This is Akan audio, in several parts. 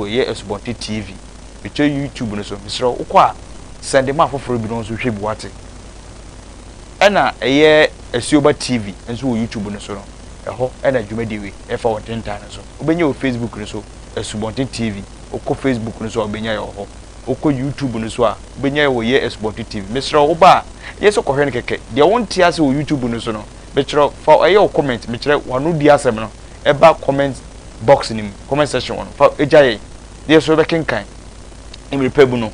Yɛ Asubɔnten TV, Mekyerɛ YouTube no so, mesrɛ wo, wokɔ a, sɛnde ma afoforɔ binom nso hwɛ bi, woate? Ɛna ɛyɛ Asuoba TV nso wɔ YouTube no so no, ɛhɔ na dwumadie wei ɛfa wɔ ntentan no so. Wobɛnya wɔ Facebook no so, Asubɔnten TV, wokɔ Facebook no so a wobɛnya yɛ wɔ hɔ. Wokɔ YouTube no so a, wobɛnya yɛ wɔ Yɛ Asubɔnten TV. Mesrɛ wo, woba a, nyɛ sɛ kɔhwɛ no kɛkɛ, deɛ wonte ase wɔ YouTube no so no, mekyerɛ wo, fa ɛyɛ wo comment, mekyerɛ w'anodie asɛm no ɛba comment, box no mu, comment section hɔ no, fa gya yɛn na yɛn nso yɛbɛkenkan. Mmere pa mu no,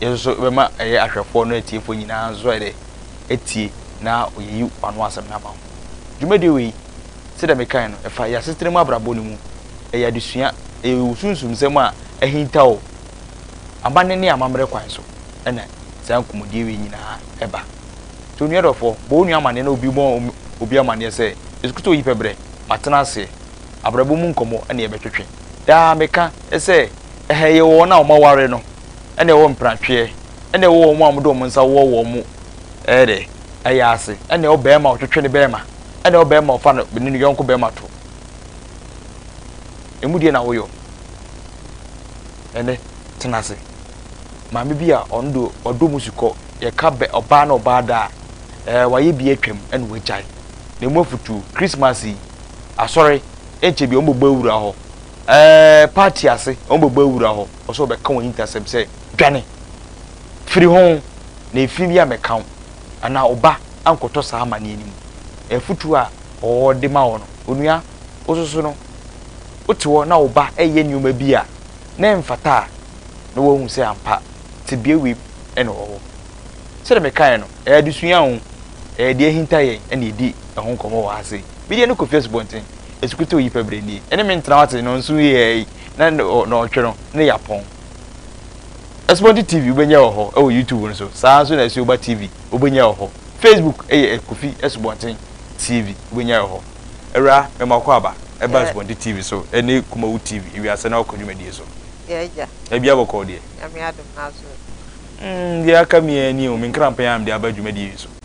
yɛn nso yɛbɛma ɛyɛ ahwɛfoɔ ne atiefoɔ nyinaa nso ayɛ dɛ atie na wɔayi w'ano asɛm no ama ho. Dwumadie wei, sɛdeɛ mekae no, ɛfa yɛn asetena mu abrabɔ no mu. Ɛyɛ adesua, ɛyɛ wo sunsum nsɛm a ahinta o, amanne ne amammerɛ kwan so na saa nkɔmmɔdie wei nyinaa ɛba. Nti onua dɔfoɔ, bɔ wo nua amanneɛ na obi mmɔ obi amanneɛ sɛ, Yesu Kristo yi pɛ berɛ, matena aseɛ. abrabɔ mu nkɔmmɔ na yɛbɛtwetwe. Daa meka sɛ, ɛha yɛ wɔ wɔn a wɔaware no na ɛwɔ mpratweɛ na ɛwɔ wɔn a wɔde wɔn nsa wɔ wɔn yea ase na ɛwɔ barima a ɔtwetwe ne barima na ɛwɔ barima a ɔfa ne ne yɔnko barima to. Ɛmu deɛ na woyɔ. Ɛnɛ, tena ase. Maame bi a ɔno deɛ ɔdɔ mu si kɔ, yɛka bɛ ɔbaa ne ɔbaa da a, ɛɛ wayɛ bi atwam na wagyae. Na ɛmu afutuo, Christmas yi, asɔre nkyɛ bia wɔbɛbɔ awura hɔ ɛɛ party ase wɔbɛbɔ awura hɔ ɔsɛ ɔbɛka wɔn hintasɛm sɛ dwane firi ho na ɛfiri bi amɛka wo anaa wo ba ankɔtɔ saa amaneɛ no mu afutuo a ɔde ma wɔ no onua wo soso no wote hɔ na wo ba ɛyɛ nneɛma bi a na ɛmfata a na wahu sɛ ampa tebea wei ɛna wɔ hɔ sɛdeɛ mekaeɛ no ɛyɛ adesua o ɛyɛ deɛ ɛhinta yɛn ɛna ɛdi ɛho nkɔmmɔ wɔ ha sei. Bi deɛ no kɔfie asubɔnten, ɛsukutuu yi pɛ berɛ nie, ɛne me ntena ase no nso yɛɛi na nɔɔtwe no ne yɛapɔn. Asubɔnten TV wobɛnya wɔ hɔ wɔ YouTube no so, saa ara nso na Asuoba TV wobɛnya wɔ hɔ. Facebook yɛ Kofi Asubɔnten TV wobɛnya wɔ hɔ. Awura, mema wokɔ aba, ɛba Asubɔnten TV so ne Kumawu TV ewiase na wakɔ dwumadie so. Yɛ agya. Baabiara bɔkɔɔ deɛ. Nyame adom nanso. Deɛ aka me ara nie o, me nkranpɛn a mede aba dwumadie yi so.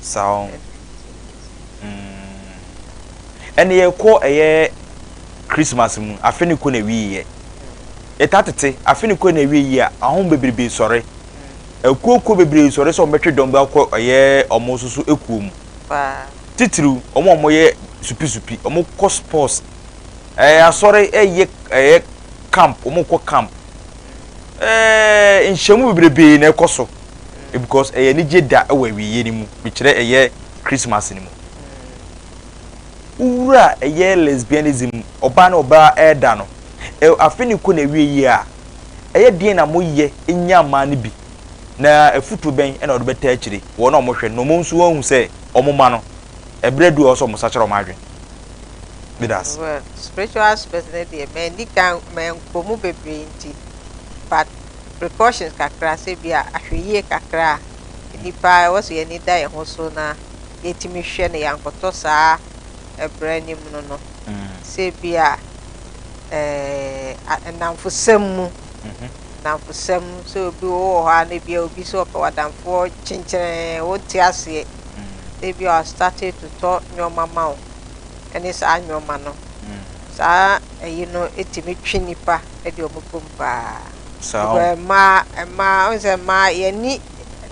Saa ɔn. Umm. Ɛne yɛ kɔ ɛyɛ Christmas mu afe ne kɔ na ɛwie yɛ. Yɛ ta tete afe ne kɔ na ɛwie yɛ a ahom bebrebe sɔre. Ɛkuo kuo bebree sɔre sɛ ɔmo bɛtwe dɔm bɛ akɔ ɛyɛ ɔmo soso ɛkuo mu. Titiriw ɔmo a ɔmo yɛ supi supi ɔmo kɔ sports ɛɛ asɔre ɛyɛ ɛyɛ camp ɔmo kɔ camp ɛɛ nhyɛmu bebrebe na ɛkɔ so. because ɛyɛ anigye da wɔ awieeɛ no mu, mekyerɛ ɛyɛ Christmas no mu. Wowura ɛyɛ lesbianism mu, ɔbaa ne ɔbaa ɛda no, afe no kɔ n'awieeɛ a, ɛyɛ deɛn na moyɛ nya mmaa no bi? Na afutuo bɛn na wɔde bɛtaa akyire wɔn a wɔhwɛ no na wɔn nso wɔahu sɛ wɔn mma no, ɛberɛ adu a ɛwɔ sɛ wɔsakyera wɔn adwene? Meda ase. Well, spiritual aspect no deɛ manni kan, mankɔ mu bebree nti, but. precautions kakra sɛ bi a ahwɛyie kakra a nnipa a ɛwɔ sɛ yɛn ani da yɛn ho so na yɛtumi hwɛ na yɛankɔtɔ saa ɛbrɛ no mu no no sɛ bi a ɛɛ nnamfosɛm mu nnamfosɛm sɛ obi wo wɔ hɔ a na bi a obi sɛ ɔpɛ w'adamfoɔ kyenkyerɛn wonte aseɛ sɛ bi a ɔstate to tɔ nneɛma ma wo ɛne saa nneɛma no saa ɛyi no ɛtumi twe nnipa de wɔn bom paa. Saa o. Because mmaa, mmaa, wohu sɛ mmaa, yɛn ani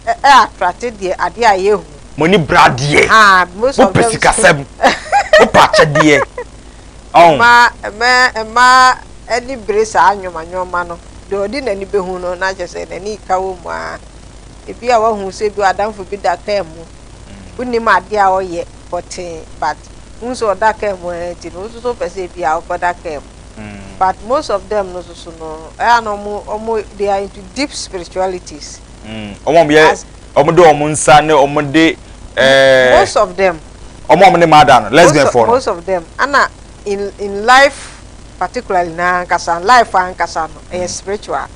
ɛ, attract deɛ, adeɛ a yɛhu. Mo ani bere adeɛ. Ah, most of them. Mopɛ sikasɛm, mopɛ akyɛdeɛ, ɔho. Mmaa, mmaa, mmaa ani bere saa nnoɔma nnoɔma no. Deɛ ɔde n'ani bɛhu no, na kyerɛ sɛ n'ani reka wɔ mu ara. Ebi a woahu sɛ ebi adamfo bi da kaa mu, wonnim adeɛ a ɔyɛ pɔtee, but wohu sɛ ɔda kaa mu ara nti no, wo nso so wopɛ sɛ ebi a wokɔda kaa mu. but most of them no soso no ɛyɛ a na ɔmo ɔmo they are into deep spiritualities. ɔmo ɔmo yɛ ɔmo de ɔmo nsa ne ɔmo de ɛɛ. most of them. ɔmo ɔmo ne mada no lesbian fo no. most of them ɛna in in life particularly na ankasa life ankasa no ɛyɛ spiritual.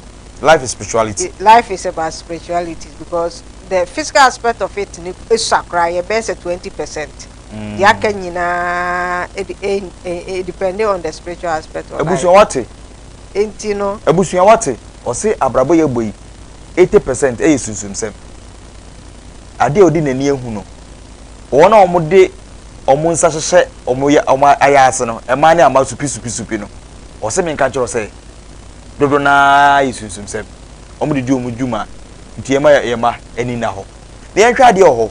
life is spirituality. life is about spirituality because the physical aspect of it no esua koraa yɛ bɛyɛ sɛ twenty percent. deɛ aka nyinaa de eh, eh, eh, depending on the spiritual aspect of abusua life wate nti no abusua wate ɔse abrabɔ yɛ bɔ yi 80 percent ɛyɛ sunsumsɛm adeɛ a ɔde n'ani ahu no wɔn a wɔde wɔn nsa hyehyɛ wɔn ya wɔn ayɛ ase no mmaa ne ama supi supi supi no ɔse menka nkyerɛ wo sɛ dodo no ara yɛ sunsumsɛm wɔn de di wɔn dwuma nti yɛma yɛ yɛ ma ani nna hɔ na yɛnhwɛ adeɛ wɔ hɔ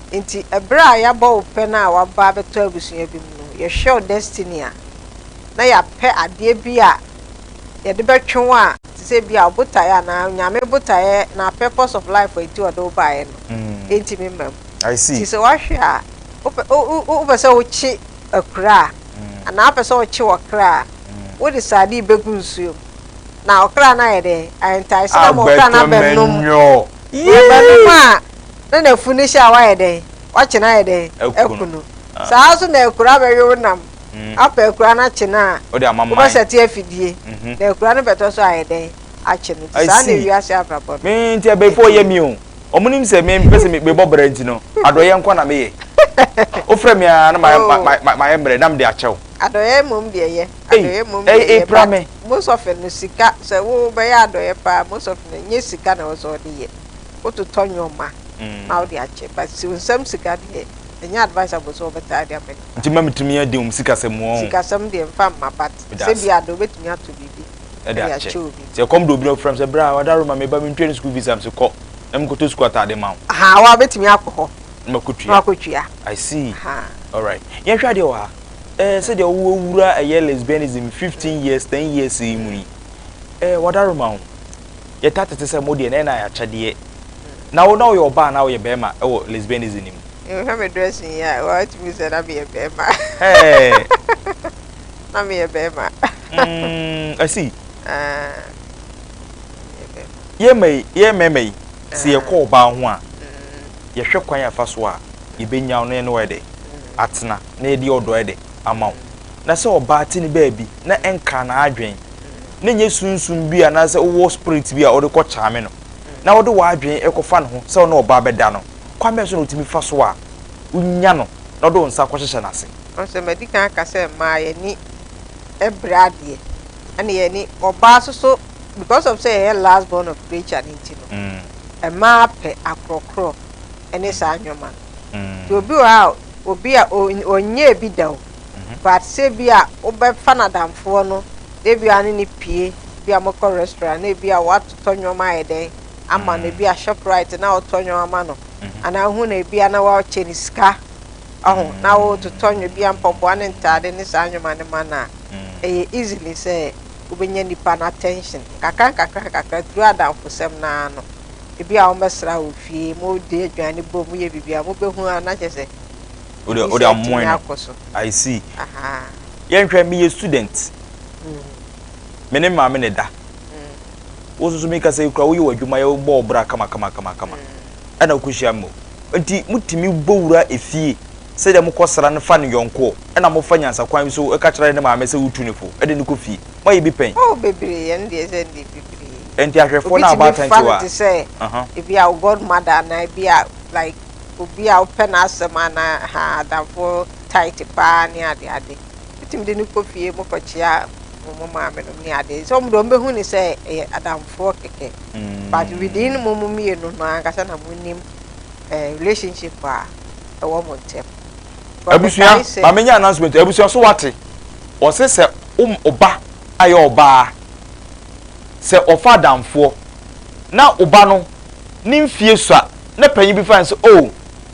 Enti bere a yɛabɔ wo pɛ no a woaba abɛtɔ abusua bi mu no, yɛhwɛ wo destiny a, na yɛapɛ adeɛ bi a yɛde bɛtwe wo a, te sɛ ebia wo botaeɛ anaa Onyame botaeɛ anaa purpose of life a enti ɔde wo baeɛ no ntumi mma mu. I see. Nti sɛ woahwɛ a, wopɛ wo wo wopɛ sɛ wokye akura a, anaa wopɛ sɛ wokye w'ɔkra a, wode sardine bɛgu nsuo mu, na ɔkra no ayɛ dɛn? Ayɛ ntaese no ama ɔkra no abɛnom. Agbɛtɔ manyoo. Ɔbɛ no mu a na n'afunu hyɛ a wayɛ dɛn? Wakye no ayɛ dɛn? Aku no. Saa ara nso na akura bɛwe wo nam, apa akura no akye no a, wobɛsɛte afidie, na akura no bɛtɔ so ayɛ dɛn? Akye no. Nti saa na wiase abrabɔ no. Me nti abɛɛfo ɔyɛ me o. Wɔn nim sɛ me mpɛ sɛ mebɔ bra nti no, adɔeɛ nko na meyɛ. Wofrɛ me a na mayɛ mmerɛ na mede akyɛ wo. Adɔeɛ mmom deɛ yɛ. Adɔeɛ mmom yɛ yɛ but most of no sika sɛ wo bɛyɛ adɔeɛ paa most of no nyɛ sika na ɛwɔ sɛ ɔde yɛ wo totɔ nneɛma na wode akyɛ but si nsɛm sika deɛ ɛnyɛ advisable sɛ wɔbɛtaa de ama nipa. Nti ma metumi adi wɔn sikasɛm wɔn. Sikasɛm deɛ nfa mma but sɛ bi ade wobɛtumi ato biribi ɛde akyɛ obi. Sɛ ɛkɔm de obi na ɔfrɛ me sɛ bra wada roma me ba mentwa ne school fees a mese kɔ na mekɔtɔ school ataade ma wo. Ahaa wa bɛtumi akɔ hɔ na wakɔtua. I see alright yɛnhwɛ adeɛ wɔ ha. eh, sɛdeɛ wo awura ɛyɛ lesbianism fifteen years ten years yi mu yi eh, wadaroma ho yɛta tete sɛ mo deɛ na ɛna akyɛdeɛ na wo na woyɛ ɔbaa na woyɛ bɛrima ɛwɔ lesbianism no mu. Hwɛ me dressing yi a watumi sɛ na meyɛ bɛrima na meyɛ bɛrima mm, asi ah, yɛ mmarima yi sɛ ah. yɛkɔ ɔbaa ho a mm. yɛhwɛ kwan afa so a yɛbɛnya no ne wayɛ dɛ atsena na yɛde ɔdɔ de ama wo. Na sɛ ɔbaa tse ne baabi na enkaa n'adwen, na nnyɛ sunsum bi anaasɛ wowɔ spirit bi a ɔde kɔ charme no, na wode w'adwen kɔfa no ho sɛ wo ne ɔbaa bɛda no, kwan bɛn so na otumi fa so a onya no na ɔde wo nsa kɔhyehyɛ n'ase? Nanso madi kan aka sɛ mmaa yɛn ani bere adeɛ ɛna yɛn ani ɔbaa soso because of sɛ yɛyɛ last born of creature no nti no mmaa pɛ akorɔkorɔ ɛne saa nnoɔma no. nti obi wɔ hɔ a obi a ɔnyɛɛ bi da o but sɛ ebi a wobɛfa n'adamfoɔ no na ebi a ne no pue ebi a mokɔ restaurant na ebi a watotɔ nnoɔma ayɛ dɛn ama no ebi a shoprite na wotɔ nnoɔma ma no anaa wohu no ebi a na wakyɛ no sika ɔho na wototɔ nwo ebi a mpɔboa ne ntaade ne saa nnoɔma no ma no a ɛyɛ easily sɛ wobɛnya nipa no attention nkakra nkakra nkakra through adamfosɛm no ara no. Ebi a wɔbɛsra wo fie, mode aduane bɔ mu yɛ biribi a, mobɛhu a na kyerɛ sɛ visa atumi akɔ so. I see. Yɛnhwɛ, meyɛ student. Me ne maame na ɛda. Wo nso so meka sɛ kura woyɛ w'adwuma yɛ wobɔ wo bra kamakamakama. Ɛna wokɔhyia me o. Nti motumi bɔ wura efie sɛdeɛ mokɔsra no fa no yɔnkoɔ ɛna mofa nyansakwan bi so ka kyerɛ ne maame sɛ wotu no fo de no kɔ fie. Moayɛ bi pɛn? Oh bebree, ɛno deɛ sɛ ndeɛ bebree. Enti ahwɛfoɔ no a wɔabaatan nti wa? Obi tumi fa no te sɛ ebi a wo godmother anaa ebi a like obi a wopɛ n'asɛm anaa ha adamfo tight paa ne ade ade. Wotumi de no kɔ fie mo kɔkyea mo maame nom ne ade. Sɛ wɔn de wɔn bɛhu ne sɛ ɛyɛ adamfoɔ kɛkɛ. But within mo mo mmienu no ankasa na mo nim eh, relationship a ɛwɔ mo ntɛm. Abusua, ma menya announcement, abusua so wate? Wɔse sɛ wo ba ayɛ ɔbaa. sɛ ɔfa adamfoɔ na wo ba no ne mfie sua na panyin bi fa no sɛ oh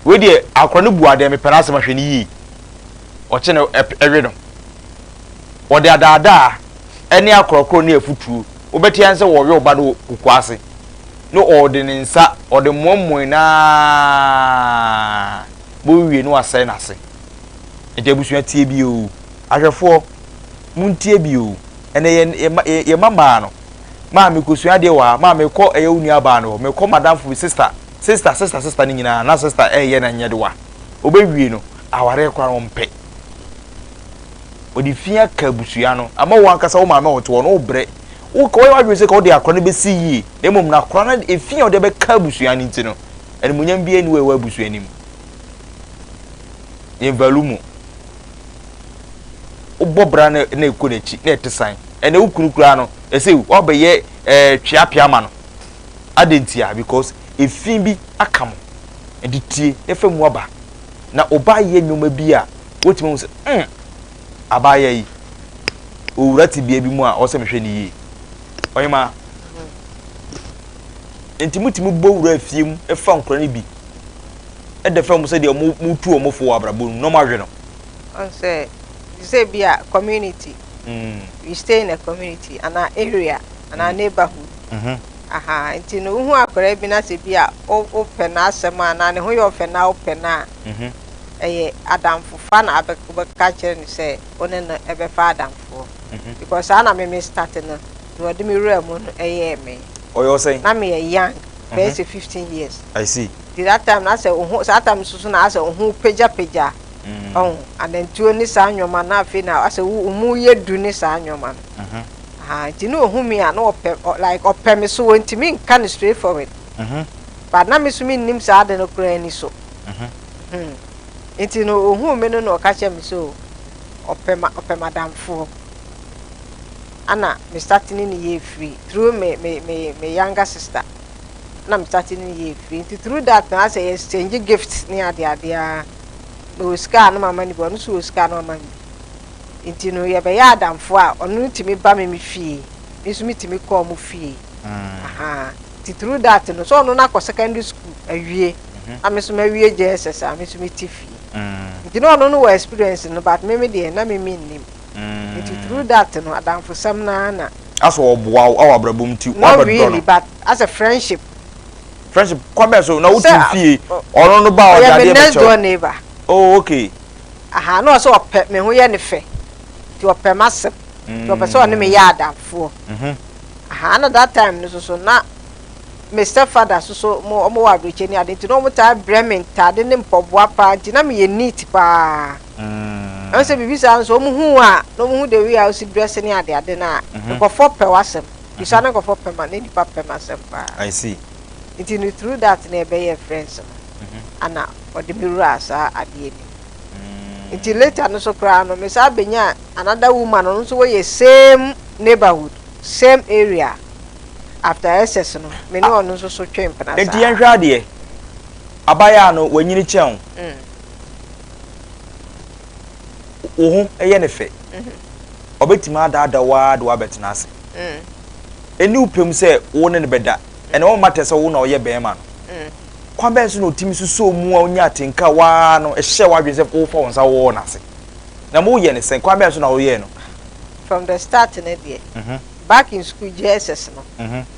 wei deɛ akora no bu adeɛ mepɛ n'asɛm ahwɛ no yie ɔkye no ɛwe no wɔde adaadaa ɛne akorɔkorɔ ne afutuo wobɛte an sɛ wɔwe wo ba no wɔ kukuo ase ne ɔde ne nsa ɔde mmoammoe no aa bɛwie no asɛe n'ase nti abusua tie bio ahwɛfoɔ Montie bi oo. Ɛnɛ yɛ yɛ mma yɛ yɛ mmabaa no. Maa mekɔsua adeɛ wɔ ha. Maa mekɔ ɛyɛ wo nuabaa no hɔ. Mekɔ m'adamfo bi sista. Sista sista sista no nyinaa na sista ɛreyɛ no nyɛdewa. Ɔbɛwie no, awareɛ koraa no ɔmpɛ. Ɔde fi aka abusua no. Ama wo ankasa wo maame a ɔte hɔ no wobrɛ. Wo ka woayɛ w'adwene sɛ ka wode akora no bɛsi yie. Na mmom no akora no ɛfi a ɔde bɛka abusua no nti no, animuonyam biara nni hɔ a ɛwɔ abusua no mu. Yɛn value mu. wobɔ bra na na ekɔ n'akyi na ɛte san ɛnna wo kunu koraa no ɛsɛ wabɛyɛ ɛɛ eh, tweapea ma no adɛn ntia because efi bi aka mo nti tie na fa mu aba na ɔbaa yɛ nneɛma bi a wotumi ho sɛ mm abaayɛ yi owura te bea bi mu a ɔsɛ mehwɛ ne yie ɔyɛma nti motumi bɔ wura afie mu fa nkora no bi ɛdɛ fɛ mo sɛ deɛ motu ɔmo fo wɔ abrabɔ mu na ɔmo ahwɛ no Ɔn sɛ te sɛ bi a community we stay in a community anaa area anaa neighborhood ahaa nti no wohu akwadaa bi na sɛ bi a wopɛ n'asɛm a anaa ne ho yɛ ɔfɛ na wopɛ no a ɛyɛ adamfofa na abɛ wobɛka akyerɛ no sɛ wo ne no ɛbɛfa adamfoɔ because saa na me me start no na ɔde me wura mu no ɛyɛɛ me Ɔyɛ ɔsɛn? na meyɛ young bɛyɛ sɛ 15 years I see. nti that time no asɛ oho saa time nso so na asɛ oho pagya pagya ɔho anantuo ne saa nnoɔma na afei na asɛ wo omo yɛ du ne saa nnoɔma no ahaa nti na ohu me a na ɔpɛ like ɔpɛ me so ɔntumi nka no straight forward but na me so me nnim saa ade no koraa ani so hmm nti no ohu me no na ɔka kyerɛ me sɛ oh ɔpɛ ma ɔpɛ madamfoɔ ana me start ne ne yɛ free through me me me me younger sister. na me tate no yɛ afiri nti through that na asɛ yɛ exchange gifts ne ade ade a me wɔ sika a na mama no bi ɔno nso wɔ sika a na wama me bi nti no yɛ bɛyɛ adamfo a ɔno no tumi ba me me fie me nso me tumi kɔ ɔmo fie ahaa nti through that no sɛ ɔno no akɔ secondary school awie na me nso mawie JSS a me nso me te fie nti na ɔno no wɔ experience no but me me deɛ na me me nnim. Ntsi through that no adamfosɛm no ara na. Asɛ ɔboa wo wɔ abrabɔ mu ntsi ɔabɛdɔ no. Not really but asɛ friendship. Friendship kwan bɛn so? Na wo tse fie ɔno no ba a ɔdze adeɛ bɛkyɛ wo. Ɔyɛ me next door neighbour. Oh okay. Aha na ɔsɛ ɔpɛ me ho yɛ no fɛ ntsi ɔpɛ m'asɛm ntsi ɔpɛ sɛ ɔne me yɛ adamfoɔ. Aha na that time no soso na me step father so so mo ɔmo wɔ abrekyɛ ne ade nti na ɔmo taa brɛ me ntaade ne mpɔboa paa nti na meyɛ neat paa ɛho sɛ biribi saa nso ɔmo hu wo a na ɔmo hu the way a wosi dress ne ade ade no a nkɔfoɔ pɛ w'asɛm nti saa na nkɔfoɔ pɛ ma na nipa pɛ m'asɛm paa I see. nti no through that na yɛbɛyɛɛ friends no ana ɔde me wuraa saa adeɛ no mu nti later no so koraa no me saa bɛnyaa another woman ɔno nso wɔyɛ same neighborhood same area After SS no, me ne ɔno nso so twee mpena saa. Enti yɛnhwɛ adeɛ. Abayaa no, wanyini kyɛn wo. Wo ho yɛ no fɛ. Ɔbɛtumi adaadaa wo ara de wo abɛtena ase. Ɛnni wo pɛ mu sɛ wo ne no bɛda. Ɛnna wo mma tɛ sɛ wo na woyɛ barima no. Kwan bɛn so na ɔtumi sosɔ mu a ɔnya atenka wo ara no hyɛ w'adwene sɛ wofa wo nsa wowɔ no ase? Na moyɛ no sɛn? Kwan bɛn so na woyɛɛ no? From the start no deɛ, back in school JSS no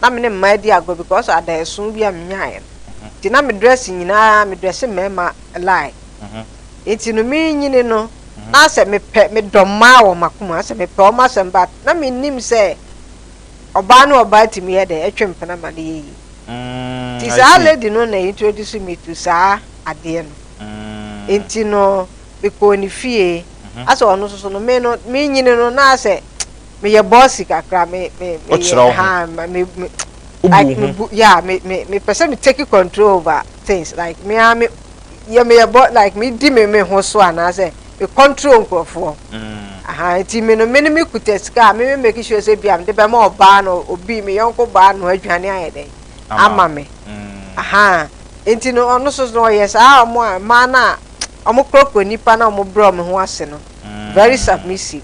na me ne mmaa di agorɔ because adaeɛso bi a menyaeɛ no nti na me dress nyinaa me dress mmarima lie nti no merenyini no na sɛ mepɛ medɔ mmaa wɔ m'akoma asɛ mepɛ wɔn asɛm but na mennim sɛ ɔbaa ne ɔbaa tumi yɛ dɛ ɛtwe mpena ma no yɛ yie nti saa lady no na introduce me to saa adeɛ no nti no mekɔɔ ne fie asɛ ɔno nso no me no merenyini no na asɛ me yɛ bɔsi kakra me me me yɛ ha me me like me bu yeah me me me pɛ sɛ me take control over things like me a me yɛ me yɛ bɔ like me di me me ho so anaasɛ me control nkurɔfoɔ mm. aha nti me no me ne me kuta sika a me me make sure sɛ bia mede bɛma ɔbaa no obi me yɔnko baa no adwane ayɛ dɛn ama me mm. aha nti no ɔno so no ɔyɛ saa ɔmo a mmaa no a ɔmo korɔkorɔ nipa na ɔmo brɛ ɔmo ho ase no very submissive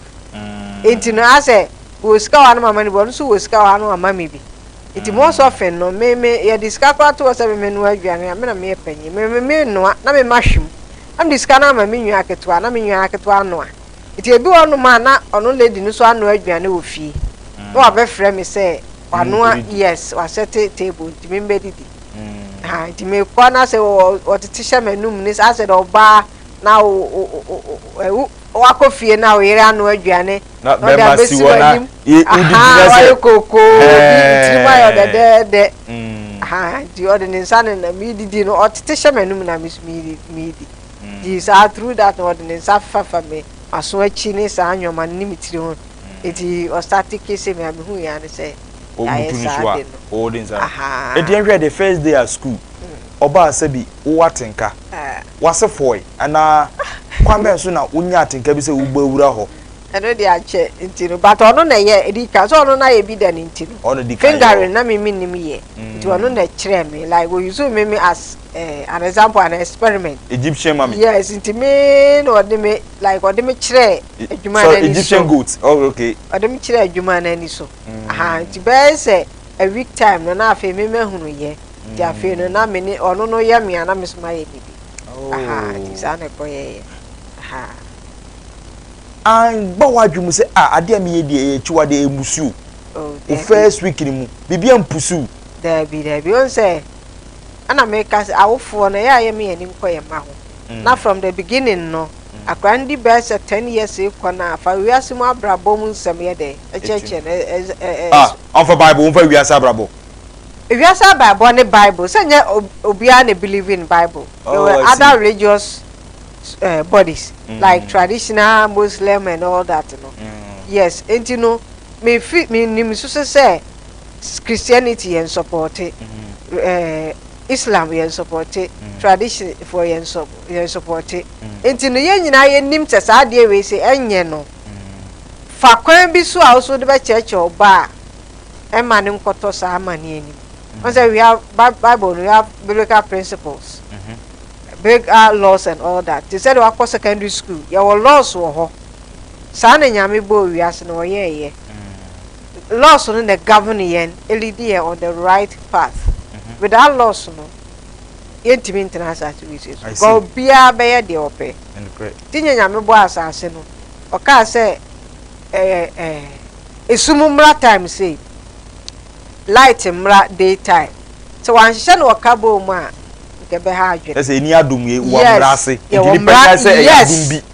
nti no ayɛ sɛ wɔ sika wɔ ano mama no bi ɔno nso wɔ sika wɔ ano ɔma me bi nti most often no me me yɛde sika koraa to hɔ sɛ me menoa aduane a me na meyɛ panyin me me menoa na me mma hwɛ mu na mede sika no ama me nua ketewa na me nua ketewa anoa nti ebi wɔ nom a na ɔno lady no nso anoa aduane wɔ fie na wabɛfrɛ me sɛ wanoa yes wasɛte table nti me mbɛdidi. Ahaa nti mekɔ na sɛ wɔtete hyɛ m'anum ne saa sɛ dɛ ɔbaa na wakɔ fie na wo yere ano aduane na ɔde abɛsi w'anim ahaa wayɛ kookoo bi tirim ayɛ dɛdɛɛdɛ ahaa nti ɔde ne nsa ne na medidi no ɔtete hyɛ m'anum na me so medi nti saa through that na ɔde ne nsa fafa me maso akyi ne saa nneɛma no ne me tiri ho nti ɔstate kissing me a mehu yɛ ane sɛ Yɛayɛ Ɔbutu no saa so a, ade no. oo den saa. Ahaa. Enti yɛnhwɛ the first day at school, ɔbaa sɛ bi wowɔ atenka, Ah. w'ase fɔɔe anaa kwan bɛn so na wonyaa atenka bi sɛ wobɛwura hɔ? Ɛno deɛ ankyɛ nti no but ɔno na ɛyɛ ɛdi kan sɛ ɔno no ayɛ bi da no nti no Ɔno na ɛdi kan yɛ fingering hɔ. na me mennim yɛ nti ɔno na ɛkyerɛɛ me like ɔ use me me as eh, an example an experiment Egyptian mummy. yes nti me na ɔde me like ɔde me kyerɛɛ adwuma no ani so ɔde me kyerɛɛ adwuma no ani so nti bɛyɛ sɛ a week time no na afei me mahunu yɛ nti afei no na me ne ɔno no yɛ me a na me so mayɛ ne bi nti saa na ɛkɔ yɛyɛ anbɔ w'adwe mu sɛ a adeɛ a meyɛ deɛ ɛyɛ akyiwadeɛ ɛmbusu o first week no mu biribi ampusu daabi daabi ɔn sɛ ɛna meka sɛ awofoɔ no ɛyɛ a yɛ me yɛ anim kɔ yɛ mma ho na from the beginning no akora no di bɛyɛ sɛ ten years rekɔ no a, fa wiase mu abrabɔ mu nsɛm yɛ dɛn? Kyerɛkyerɛ no. Ɛ, ɛ, ɛ, Ah, ɔmfa Bible, ɔmfa wiase abrabɔ. Wiase abrabɔ ne Bible, sɛ nyɛ ob, obiara na believe in Bible. There Oh, were I see. other religious eh, bodies, like Mm. traditional Muslim and all that no. Mm. Yes, enti no, me fi, me nim nso so sɛ Christianity yɛ nsɔpɔɔte. Mm. Eh, Islam yɛn sɔpɔte, tradition foɔ yɛn sɔ yɛn sɔpɔte, nti no yɛn nyinaa yɛ nim sɛ saa adeɛ wei se ɛnyɛ no, fa kwan bi so a wo so wode bɛ kyerɛkyerɛ wo ba a, ɛmma no nkɔtɔ saa amaneɛ no mu, wahu sɛ we have bi bible no we have biblical principles, biblical laws and all that, te sɛdeɛ wakɔ secondary school yɛwɔ laws wɔ hɔ, saa na Nyame bɔɔ wiase no ɔyɛɛyɛ. Laws no na govern yɛn, elidi yɛn on the right path. Without laws no, yɛntumi ntena asase wesee so. Because obiara bɛyɛ deɛ ɔpɛ. Nti nyɛ Nyame bɔɔ asase no, ɔkaa sɛ esum mmra time sei, light mmra day time. Sɛ wanhyehyɛ no wɔ carbon mu a, nka ɛbɛha adwene. Kyerɛ sɛ ɛni adom, yɛwɔ mmra ase. Nti nipa nkae sɛ ɛyɛ adom bi. Yes!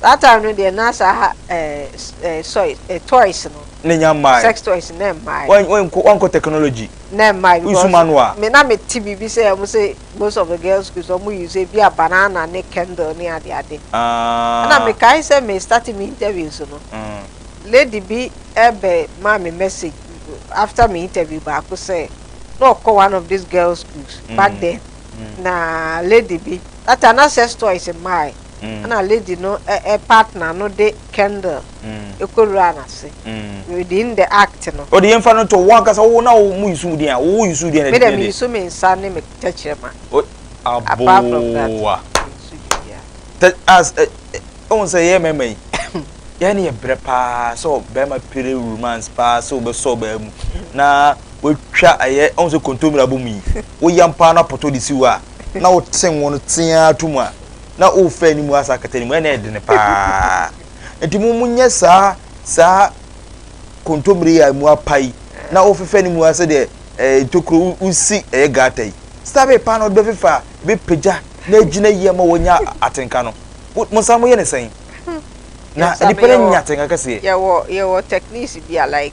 Saa time no deɛ na saa eh, eh, soy, eh, toys no. Ne nya mmae. Sex toys ne mmae. Wankɔ wankɔ technology. Ne mmae because. Nsu ma no a. Me na me ti biribi sɛ wɔn sɛ most of the girls schools wɔn use ebi a banana ne candle ne ade ade. Ah. Ɛna me kae sɛ me start me interviews no. Mm. Lady bi ɛbɛ maa me message after me interview baako sɛ na ɔkɔ one of these girls schools mm. back then. Mm. Na lady bi that time na sex toys mmae. na lady no partner no de candle kɔwuraa no ase within the act no. Ɔde yɛmfa no nto wo ankasa wo na wo use wo din a, wo use wo din a na ɛde din de. Me de me use me nsa ne me tɛkyerɛma. Apart from that, me use biribiara. As, wohu sɛ yɛn mmarima yi, yɛn ne yɛ brɛ paa sɛ ɔbarima pere romance paa sɛ wobɛsɔ ɔbaa mu na watwa ɛyɛ, wohu sɛ kontommire abom yi, woyam paa na pɔtɔ de si hɔ a, na wote ngo no tee ara to mu a, na worefa anim wɔ asa akata no mu ɛna ɛyɛ dene paa nti mo mo nyɛ saa saa kontomire a mu apa yi na wofefa anim wɔ asa deɛ ɛɛ eh, ntokuro wosi ɛyɛ gata yi stabe paa na ɔde bɛfefa bɛpagya na agyina yie ma wɔnya atenka no mo nsa mo yɛ ne sɛn na nipa no nya atenka kɛseɛ. yɛwɔ yɛwɔ techniques bi a like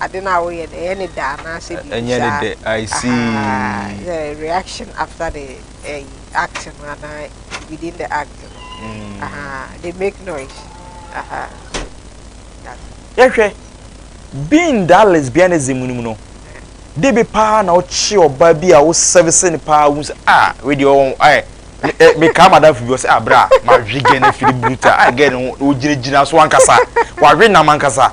ade no a woyɛ no ɛyɛ ne dɛ anaasɛ biribi saa. Ɛnyɛ ne dɛ, I see. The reaction after the ɛyi act no anaa within the act no. They make noise. Yɛhwɛ being that lesbianism no mu no, de bi paa na ɔkye ɔbaa bi a wo service ne paa wo sɛ ah wei deɛ ɔwɔ ayɛ mekaa madamfo bi ɔsɛ abira ah, mahwe gɛ no afiri bruta a gɛ no wogyinagyina so ankasa wahwe nam ankasa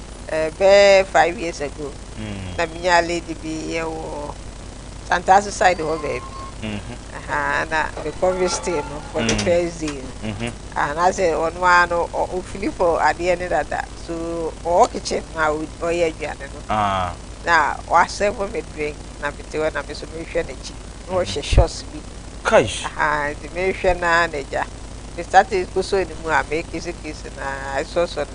bɛyɛ five years ago na menyaa lady bi wɔ Santaso side hɔ baabi na me kɔ visiting no for the first day no anaasɛ ɔno ara no ɔfili for adeɛ ne dada so ɔwɔ kitchen no a ɔyɛ aduane no na wasɛvo me drink na mete hɔ na me so mehwɛ n'akyi na ɔhyɛ shorts bi nti mehwɛ no ara na agya me started kosoo ne mu a mekisikisi na ɛsɔsɔ no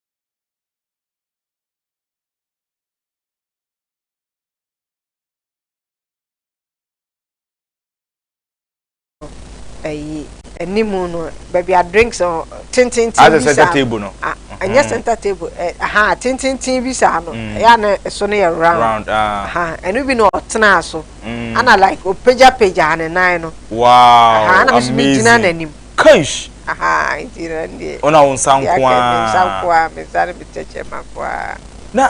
ɛyi anim no baabi a drinks no tententen bi saa center table no ɛnyɛ center table ɛha tententen bi saa no ɛyɛ a na ɛso no yɛ round ɛha ɛno bi na ɔtena so ana like ɔpagyapagya ne nan no wow amazing ɛha na mesi mi gyina n'anim. Kaish! Ahaa, nti na ndeɛ. Wo na wo nsa nkoaa. Deɛ aka, me nsa nkoaa, me nsa ne me tɛkyɛma nkoaa. Na,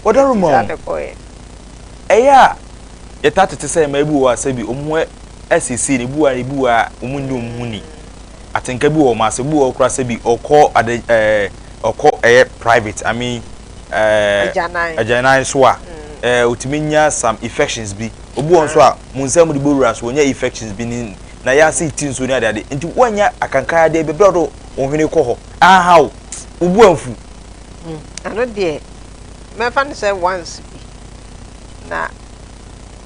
wɔdɔre ma wo. Nti saa na ɛkɔɔɛ. Ɛyɛ a, yɛtaa tete sɛ mmaa bi wɔ hɔ a sɛbi wɔn ho asiesie no, ebi wɔ hɔ a, ebi wɔ hɔ a, wɔn nnye wɔn ho nni. Atenka bi wɔ wɔn ase, ebi wɔ hɔ koraa sɛbi ɔkɔ ade, ɛɛ, ɔkɔ ɛyɛ private, I mean, ɛɛ. Agyanan. Agyanan so a, ɛɛ, otumi nya some infections bi. Obi wɔ hɔ nso a, wɔn nsa mu de bɔ wura so, wɔnya infections bi ne. na yɛ ase reti nsuo ne adeade, nti woannya akankae adeɛ bɛbrɛ a wode wo hwene rekɔ hɔ, aha wo, wo bo amfu. Ɛno deɛ, mɛfa no sɛ once bi, na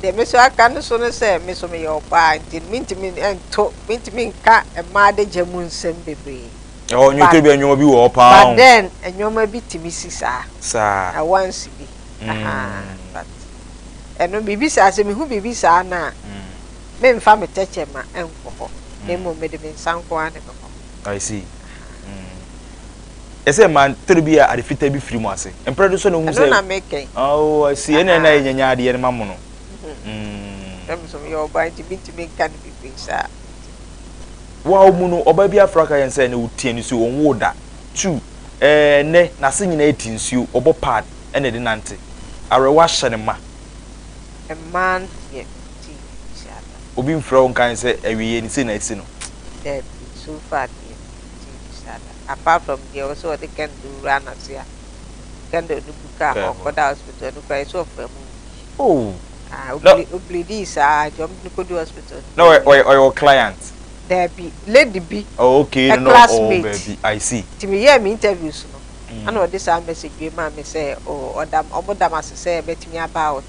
deɛ me nso aka no so ne sɛ, me nso meyɛ ɔbaa nti mentumi nto, mentumi nka mmaa adagya mu nsɛm bebree. Ɛhɔ nnwetire bi a nneɛma bi wɔ hɔ paa o. But then, nneɛma bi tumi si saa. Saa. Na once bi, aha, but ɛno biribi saa, sɛ mehu biribi saa no a, Meremfa me tɛkyerɛma nkɔ hɔ, na mmom mede me nsa nko ara na ɛbɛkɔ hɔ. I see. Ɛsɛ ma toro bi a ade fitaa bi firi mu ase. Mpere do so na ohu sɛ. Ɛno na meka yi. Oh, I see. Ɛna ɛna yɛ nyanya adeɛ no ma mo no. Na me so meyɛ ɔbaa nti mentumi nka no bebree saa. Wawo mu no, ɔbaa bi afra ka yɛn sɛ na ɔtia ne so, ɔnwoo da. Two, ɛɛ nnɛ n'ase nyinaa ati nsuo, ɔbɔ pad na ɛde nante. Awerɛhoɔ ahyɛ no ma. Mmaa nteɛ. ti hyɛ da. Obi mfrɛ wo nkae sɛ awieɛ ni sei na asi no. Daabi, so far deɛ me ti hyɛ da apart from deɛ ɔse ɔde candle wura n'ase a candle no bu kaa hɔ ɔkɔ da hospital no koraa ɛsɛ ɔfra mu wu bi. Ooh! Ah, o ple o pleadii saa nti ɔmo de no kɔdu hospital no Na ɔyɛ ɔyɛ ɔyɛ wo client? Daabi, lady bi, Oh okay, no na ɔwɔ classmate baabi, I see. Nti me yɛɛ me interviews no ɛna ɔde saa message wei maa me sɛ oh ɔda ɔmo da m'ase sɛ mɛtumi aba out.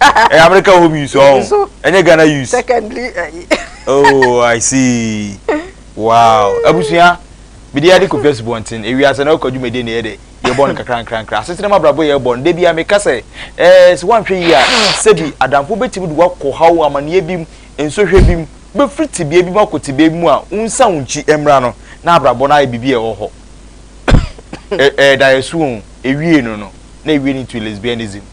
ɛyɛ america home use ɔn ɛnyɛ ghana use secondary ɛyi oh i see wow abusua mede yɛde kɔpia asubɔnten ewiase na ɔkɔ dwumadie ne yɛ dɛ yɛbɔ no kakra nkrankra asetena mu abrabɔ yɛbɔ no da bia meka sɛ ɛɛ sɛ woanhwɛ yie a sɛbi adamfo bɛtumi de woakɔ haw amanneɛ bi mu nsohwɛ bi mu wobɛfiri tebea bi mu akɔ tebea bi mu a wonsa wo nkyi mmra no na abrabɔ no ayɛ biribi a ɛwɔ hɔ ɛda yɛ so o ewie no no na ewie no into lesbianism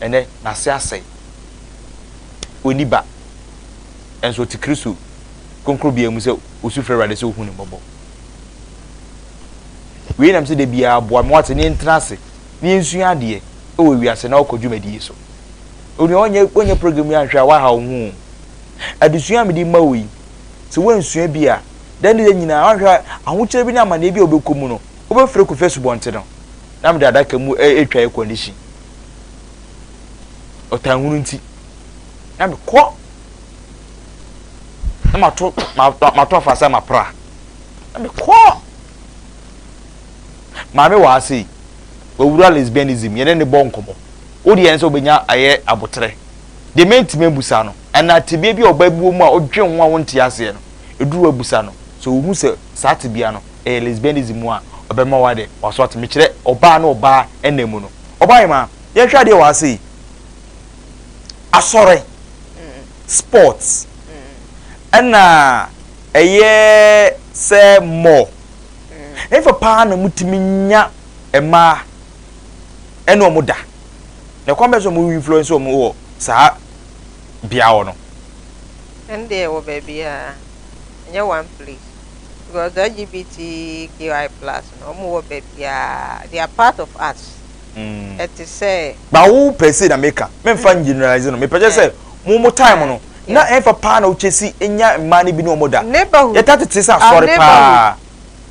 Ɛnnɛ, n'ase asɛe. Onni ba. Nanso ɔte Kristo kronkronbea mu sɛ osu frɛ Awurade sɛ ohu no mmɔbɔ. Wei nam sɛ da biara boa me wate ne yɛntena ase na yɛnsua adeɛ wɔ wiase na wokɔ dwumadi yi so. Onua wonyɛ wonyɛ program yi anhwɛ a waha wo ho. Adesua a mede ma wo yi, sɛ woansua bi a, dɛn ne dɛn nyinaa wanhwɛ a ahokyerɛ bi ne amanneɛ bi a wobɛkɔ mu no, wobɛfiri kɔfi asubɔnten no. Na mede adaka mu ɛretwa air condition. ɔtanhunu nti na mekɔ na mato mato afasa mapra na mekɔ maame wɔ ase yi wɔwura lesbianism yɛne ne bɔ nkɔmmɔ wode yɛn sɛ wobɛnya ayɛ aboterɛ deɛ mɛntumi abusa no ɛna tebea bi a ɔba buo mu a ɔdwe ho a wonte aseɛ no ɛduru abusa no sɛ ɔhu sɛ saa tebea no ɛyɛ lesbianism mu a ɔbɛma wade waso ate mekyerɛ ɔbaa ne ɔbaa ɛna mu no Ɔba Emma, yɛnhwɛ adeɛ wɔ ha sei. Asɔre, sports, ɛna ɛyɛ sɛ mall. Ɛfa paa na motumi nya mmaa ɛne wɔn da. Na ɛkwan bɛn so wɔn influence wɔn wɔ saa bea hɔ no? Ɛndeɛ wɔ baabiara, ɛnyɛ one place. because LGBT QI plus no ɔmo wɔ baabiaa they are part of us ɛte sɛ. Ba wo pɛ sei na meka me nfa ngeneralize no me pɛ kyɛ sɛ mo mo time no na ɛnfa paa na wo kyɛ si nya mmaa no bi ne ɔmo da yɛ ta tete sɛ asɔre paa.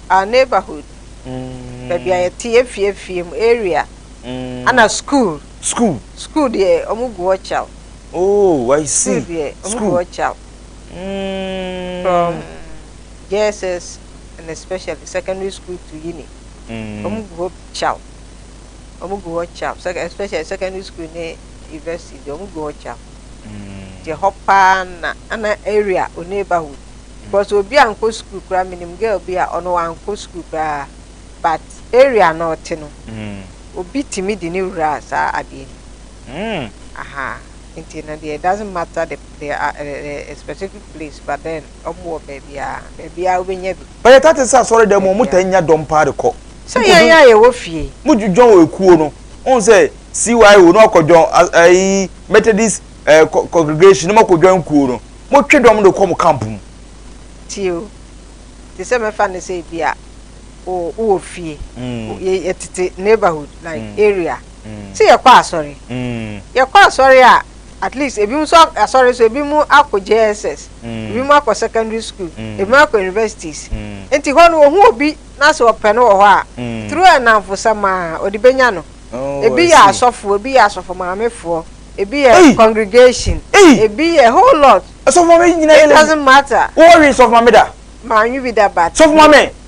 Our neighborhood baabi a yɛ te yɛ fie fie mu area ana school school school deɛ ɔmo gu hɔ kyaw oh I see school deɛ ɔmo gu hɔ kyaw. From JSS and especially secondary school to uni, wɔn gu hɔ kyaw. Wɔn gu hɔ kyaw, especially secondary school ne university deɛ wɔn gu hɔ kyaw. Deɛ hɔ paa na ana area o neighborhood. Because obi ankɔ school koraa, minim girl bi a ɔno wankɔ school koraa, but area na ɔte no, obi tumi de ne wura saa adeɛ no. Aha, nti no deɛ it doesn't matter the. they are at a specific place but then ɔmo wɔ baabiaa, baabiaa wobɛnya bi. Ɛyɛ tate sɛ asɔredɛm mu wɔtaa nya dɔm paa de kɔ. Sɛ yɛn a yɛwɔ fie. Mo dwon wɔ ekuo no, wohu sɛ CYO na wakɔ dwon ɛyi Methodist ɛɛ congregation na mo akɔ dwan kuo no, mo twe dɔm de kɔ mo camp mu. Tie o, te sɛ mɛfa no sɛ ebi a wo wɔ fie, yɛ yɛ tete neighborhood like area, sɛ yɛkɔ asɔre, yɛkɔ asɔre a. at least ebinom nso a asɔre nso ebinom akɔ JSS ebinom akɔ secondary school ebinom akɔ universities nti hɔ no ohu obi na sɛ ɔpɛ no wɔ hɔ a through ɛnamfosɛm a ɔde bɛnya no ebi yɛ asɔfoɔ ebi yɛ asɔfomaamefoɔ ebi yɛ congregation ebi yɛ whole lot it doesn't matter wɔwe sɔfomame da manwe bi da but sɔfomame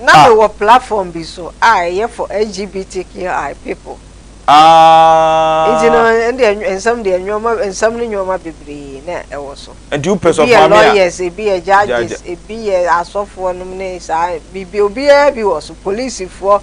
Na me wɔ platform bi so a ɛyɛ for LGBTQI people. Nti no Ah. ɛnde nsɛm deɛ nnoɔma nsɛm ne nnoɔma bebree na ɛwɔ so. Nti wo pɛ sɛ Ebi yɛ ɔfa me a. lawyers, ebi yɛ judges, Judge. ebi yɛ asɔfoɔ nom ne saa biribi obiara bi wɔ so, polisifoɔ,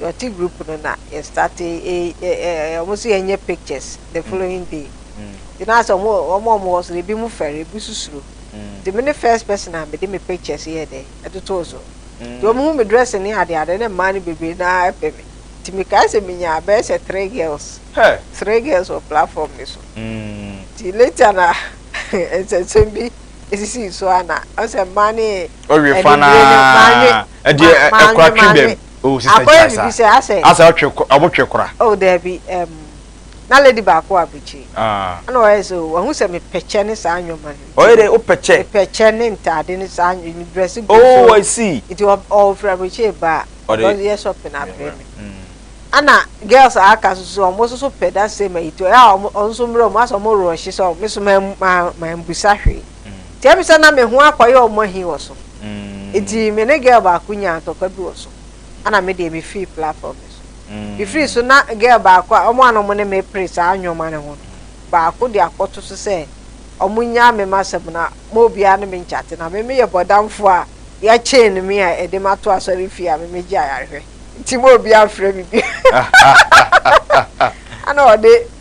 yɛte group no na yɛ start wɔn so yɛ nyɛ pictures the following day nti na asɛ wɔn wɔn wɔn wɔ so ebi mu fɛre ebi so suro nti me ne first person a me de me pictures yɛ dɛ ɛtotoo so nti wɔn hu me dress ne ade ade ne mmaa no bebree na ɛpɛ me nti me kaa sɛ me nya abɛɛ sɛ three girls three girls wɔ platform ne so nti later na nsɛnsɛm bi esisi so a na ɔsɛ mmaa ne ɛni bere ne mmaa ne. ɛdeɛ ɛkora twe dɛm o sista gya saa asa ɔtwe ɔmo twe kora. o oh, daabi ɛm na lady baako wɔ abirikyi ah. ɛna ɔyɛ sɛ o wahu sɛ mepɛkyɛ ne saa nneɛma no ɔyɛ dɛ wopɛkyɛ mepɛkyɛ ne ntaade ne saa ne dress gu so oh i see nti ɔfiri abirikyi ba ɔde yɛ shopping abrɛ me ɛna mm. girls a aka soso ɔmo nso so pɛ da same ayi to ɛyɛ a ɔmo nso mmerɛ ɔmo asɛ ɔmo rɔɔhye sɛ ɔmo nso maa mbusa hwee. Nti ɛm sɛ na me ho akɔyɛ ɔmo ahi wɔ so. Nti me ne girl baako nyaa ntɔkwa bi wɔ so. Ɛna me deɛ me firi platform no so. Me firi so na girl baako a, ɔmo a na ɔmo ne me pere saa nnoɔma no ho no, baako de akɔto so sɛ ɔmo nyaa me m'asɛm na mo obiara ne me nkyate. Na me me yɛ bɔdamfoɔ a yɛ chain me a ɛde me ato asɔre fie a me me gye ayarehwɛ. Nti mo obiara mfrɛ me bio. Ɛna ɔde.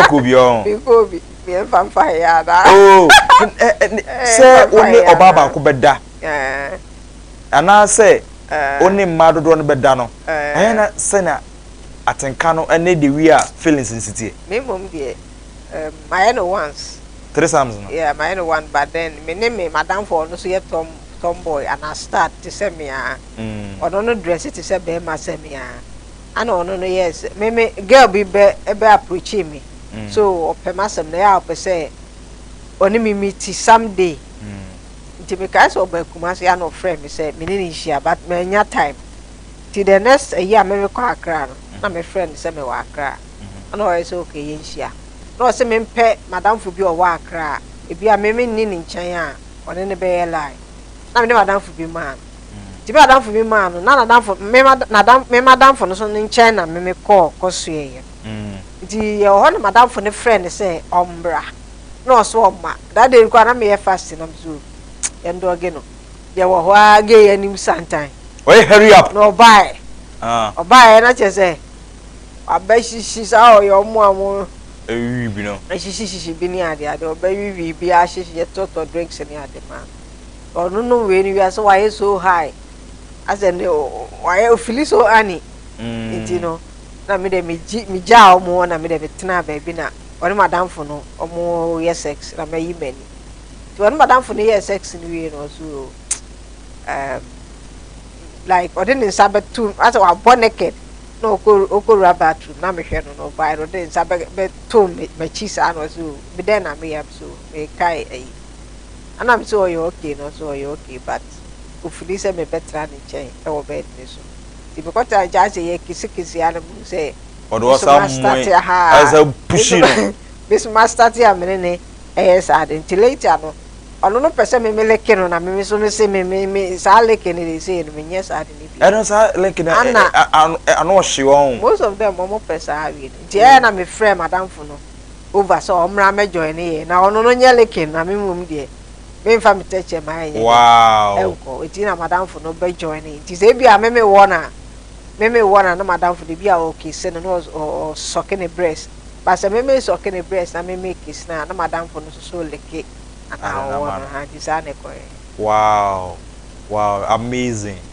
ɔkɔ obi ɔn. mi kɔ obi mi yɛn fa nfa yɛ ada. oo sɛ wo ne ɔbaa baako bɛ da anaasɛ wo ne mmaa dodoɔ no bɛ da no ɛyɛ na sɛ na atenka no ɛne the way a feelings nsi teɛ. mi mom deɛ um, ma yɛ no once. three sums no. yeah ma yɛ no one but then me ne me madamfo ɔno so yɛ tom tomboy ana stud te sɛ me aa ɔno no dress te sɛ bɛɛma sɛ me aa. Ana ɔno no yɛɛ sɛ me me girl bi bɛ ɛbɛ approachee me so ɔpɛ m'asɛm na ɛyɛ a ɔpɛ sɛ ɔne me meet some day nti me kae sɛ ɔba Kumasi ana ɔfrɛ me sɛ me ne no nhyia but mannya time nti the next ɛyi a merekɔ Accra no na me frɛ no sɛ me wɔ Accra ana ɔyɛ sɛ okay yɛn hyia na ɔse me mpɛ madamfo bi a ɔwɔ Accra a ebi a me me nni ne nkyɛn a ɔne no bɛyɛ line na me ne madamfo bi maa no. Ntsi ber a adamfo bi maa no, na n'adamfo, me ma, n'adam, me m'adamfo no so ne nkyɛn na me me kɔɔ kɔsoɛeɛ no. Ntsi yɛwɔ hɔ na m'adamfo no frɛɛ no sɛ ɔmbra, na ɔso ɔmma. That day no koraa na meyɛ fast na medze o, yɛndɔɔge no, yɛwɔ hɔ ara gee yɛanim santan. Ɔyɛ hurry up. Na ɔbaeɛ. Ah. Ɔbaeɛ na kyerɛ sɛ, wabɛhyehye saa ɔyɛ ɔmo a ɔmo. Ɛwiwi bi no. Ɛhyehyehyehye bi ne adeade, ɔbɛwiwii bi ahyehye, yɛtɔtɔ drinks ne ade maa no. Ɔno no wei no wiase wayɛ so high asɛ ne wayɛ ofili so ani nti no na me dɛ megye megyaa wɔn hɔ na me dɛ metenaa baabi na ɔne madamfo no wɔn yɛ sex na mayi m'ani nti ɔne madamfo no yɛɛ sex no wie no ɔso um, like ɔde ne nsa bɛto asɛ wabɔ naked na ɔkɔ ɔkɔwura bathroom na mehwɛ no na ɔbae no ɔde ne nsa bɛ bɛto m'akyi saa na ɔso me dɛn na meyɛ so mekae ayi. Ana me sɛ ɔyɛ okay no ɔse ɔyɛ okay but ofili sɛ me bɛtra ne nkyɛn wɔ bed no so nti me kɔtra ne nkyɛn ase yɛ kisi kisi a na me hu sɛ me so ma starte ahaa me so ma starte a me ne ne ɛyɛ saa ade nti later no ɔno no pɛ sɛ me me leke no na me me so me se me me me saa leke no de sei no me nyɛ saa de ne bi ɛno saa leke no ano ɔhye wɔn most of them ɔmo pɛ saa awie no nti ɛyɛ na me frɛ madamfo no Ova sɛ ɔmmra mmɛjoin yɛn na ɔno no nyɛ likin na me mmom deɛ menfa me tɛkyɛma ɛnyɛ dɛ nkɔ nti na madamfo no bɛ join nti sɛ ebia me me wɔ no a me me wɔ no a na madamfo no ebia ɔ kisse no na ɔ sɔke ne brɛs but sɛ me me sɔke ne brɛs na me me kisse no a na madamfo no nso so like anaa ɔwɔ no ahaa nti saa na ɛkɔeɛ. Wow wow amazing.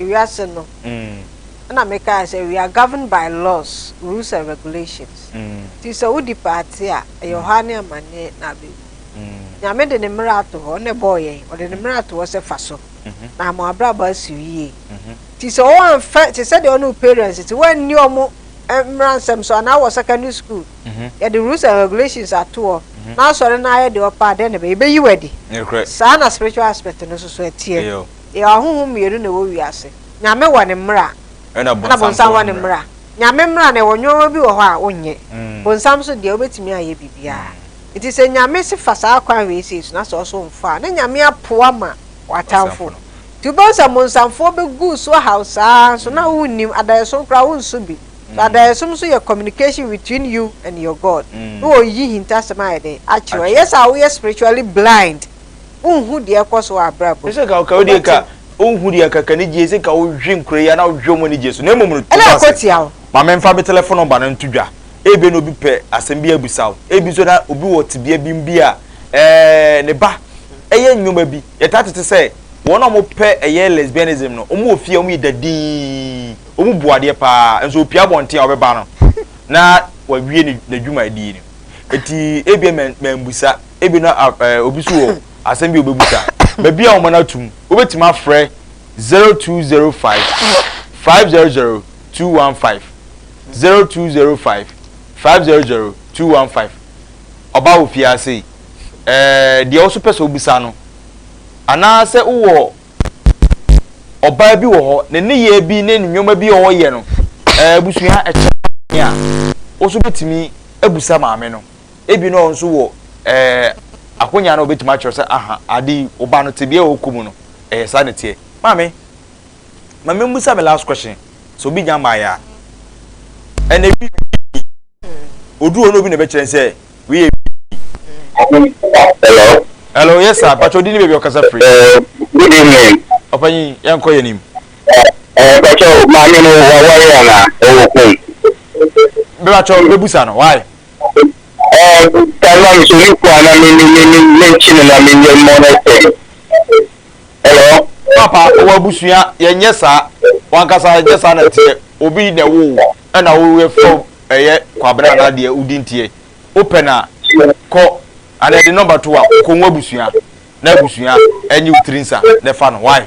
ewiase no, nna mekãa sɛ we are governed by laws, rules and regulations. Ntsi sɛ wo di paatse a, ɔyɛ ɔhaw nye amanneɛ na abewu. Nyame de Ne mbra ato hɔ, Ɔna bɔɔ hɛn, Ɔde Ne mbra ato hɔ sɛ fa so, na ama w'abrabɔ asiw yie. Ntsi sɛ wɔammfa, tse sɛ deɛ ɔne wo parents tse, woanni wɔn mmaransɛm so, anaa wɔ secondary school, yɛde rules and regulations ato hɔ, na asɔre no ara yɛ deɛ ɔpɛ a, dɛn na ɛbɛyɛ? Yɛbɛyi wo adi. Saa na spiritual aspect no nso so teɛ. Yɛwɔ ahonhom mmienu na ɛwɔ wiase. Nyame wɔ ne mmara ɛna bonsam wɔ ne mmara. Nyame mmara no ɛwɔ nnoɔma bi wɔ hɔ a wonyɛ. Bonsam nso deɛ wobɛtumi ayɛ biribiara. Nti sɛ Nyame se fa saa kwan wei sei so na sɛ ɔso mfa a, ne Nyame apo ama w'atamfo. Nti wobɛhu sɛ bonsamfoɔ bɛgu so ahaw saa ara nso na wonnim. Adaeɛsom koraa wonso bi. So adaeɛsom nso yɛ communication between you and your God. Ne wɔyi hintasɛm ayɛ dɛn? Akyerɛ wo. Ɛyɛ sɛ a woyɛ spiritually blind. Wonhu deɛ ɛkɔ so wɔ abrabɔ mu. Ɛsɛ ka ɔka odie ka wonhu deɛ ɛka ka anigyeɛ ɛsɛ ka wohwe nkura yi anaa wohwe wɔn anigyeɛ so na mmom no to dwa sɛ ma menfa me telefon nɔmba no nto dwa ebia na obi pɛ asɛm bi abusa wo ebi nso na obi wɔ tebea bi mu bi a ɛɛ ne ba ɛyɛ nneɛma bi yɛtaa tete sɛ wɔn a wɔpɛ ɛyɛ lesbianism no wɔn wɔ fie a wɔn yɛ dadinn wɔn bu adeɛ paa nso opia abɔnten a ɔbɛba no na wawie n'adwumadie no eti ebia mɛmbusa. ebi na ɛɛ obi so wɔ asɛm bi a obebisa baabi a wɔn no atum wobɛtumi afrɛ zero two zero five five zero zero two one five zero two zero five five zero zero two one five ɔbaa wɔ fie ase yi ɛɛ deɛ ɔso pɛ sɛ obisa no anaasɛ wowɔ ɔbaa bi wɔ hɔ ne nneyɛɛ bi ne ne nneɛma bi a ɔyɛ no ɛɛ abusua ɛkyɛ a woso bɛtumi abusa maame no. Ebi na ɔno nso wɔ ɛɛ akonya na ɔbɛtumi akyerɛ sɛ aha ade yi wo ba no tebea a ɔkɔ mu no ɛyɛ saa na ɛteɛ. Maame, ma memmisa me last question sɛ obi nya mmaeɛ a ɛna ebi ɔduru hɔ na obi na ɛbɛkyerɛ sɛ wei yɛ Hello. Hello, yes sir. Pacho, di ni baby okasa free. Uh, good evening. Opanyi, yan ko yenim. Eh, Pacho, mami no wa wa yana o ko. Pacho, bebusa no, why? Ɛɛ, Taiwan nso ne kunu a na me me me me menkyi no na menyɛ mmɔ no sɛn? Hello? Papa, wɔ abusua, yɛnyɛ saa. W'ankasa ɛnyɛ saa na ɛteɛ. Obi na ɛwoo wo, ɛna woyɛfrɛ wo ɛyɛ Kwabena anaa deɛ wo din teɛ. Wopɛ no a, kɔ, anaa de nɔmba to wo a, kɔ wo abusua, na abusua ɛnye wo tiri nsa na ɛfa no. Why?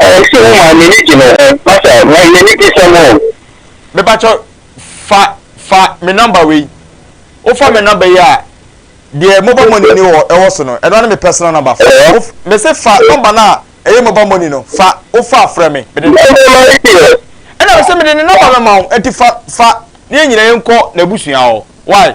Ɛɛ sɛ wo maa m'ani gye no ho masa na yɛ ne bisɛm o. Mepakyɛ fa fa me number wei wo fa me number yi a deɛ mobile money ni wɔ ɛwɔ so no ɛno ne me personal number fa wo me se fa number no a ɛyɛ mobile money no fa wo fa frɛ me mede ne ɛna me se mede ne number bɛma wo ɛnti fa fa ne yɛ nyina yɛ nkɔ na abusua hɔ why.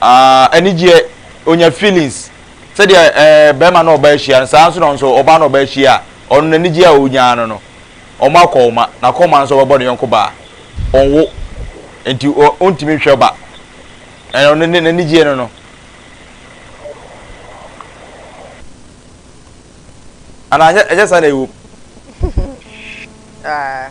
ah anigyeɛ ɔnya feelings sɛdeɛ eh barima ne ɔbaa hyia no saa nso na nso ɔbaa ne ɔbaa hyia a ɔno n'anigyeɛ a ɔnyaa no no wɔn akɔ wɔn ma n'akɔ wɔn nso ɔbɛbɔ ne yɔnko baa ɔnwo nti ɔntumi nhwɛ ba ɛno ne ne n'anigyeɛ no no anaa ɛnyɛ saa na ɛwom. Ah.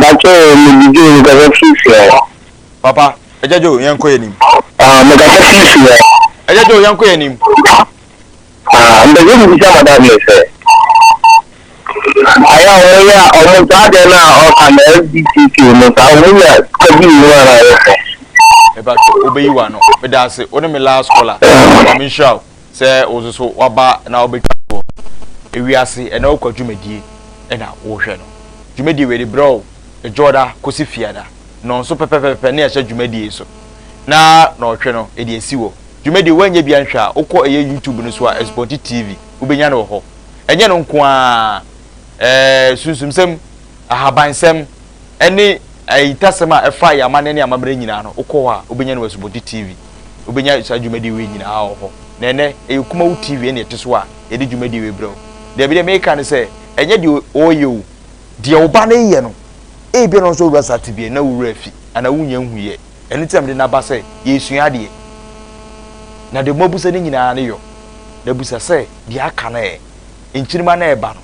Bakyɛw mede Joe mekasa firi fie hɔ. Papa, Agya Joe yɛnkɔ yɛn anim. Ah, mekasa firi fie hɔ. Agya Joe yɛnkɔ yɛn anim. Ah, mpɛ sɛ mebisa madam no sɛ, ayɛ a wɔn yɛ a wɔn saa deɛ no a ɔka na LGBTQ no saa wɔn nya sika bi wɔ mu a na ayɛ fɛ. Mepatwɔ, wobɛyi w'ano. Meda ase, wo ne me last caller. Nyame nhyira wo. Sɛ wo nso so waba na wobɛtwa toɔ ewiase ɛna wokɔ dwumadie ɛna wohwɛ no dwumadie wei de berɛ o ɛdwoɔda kɔsi fiada no nso pɛpɛpɛpɛ ne ɛhyɛ dwumadie so na na ɔhwɛ no ɛde asi wɔ dwumadie woanyɛ bia nhwɛ a wokɔ ɛyɛ youtube no so a Asupɔnkye TV wobɛnya no wɔ hɔ ɛnyɛ no nko a ɛɛ sunsumsɛm ahabansɛm ɛne ayitasɛm a ɛfa yɛ amanɛ ne amammerɛ nyinaa no wokɔ hɔ a wobɛnya no wɔ Asupɔnkye TV. wobɛnya saa dwumadie wei nyinaa wɔ hɔ na ɛnɛ ɛyɛ kumawo tv ɛne ɛte so a yɛde dwumadie wei brɛ wo daabi deɛ meka ne sɛ ɛnyɛ deɛ ɔyɛ o deɛ ɔba no yɛ no ebia no nso wura saa tebea na wura afi anaa wonya nhuyɛ ɛno ti na mede naba sɛ yɛsua adeɛ na deɛ moabusa no nyinaa ne yɔ na busa sɛ deɛ aka no ɛ nkyirima no ɛba no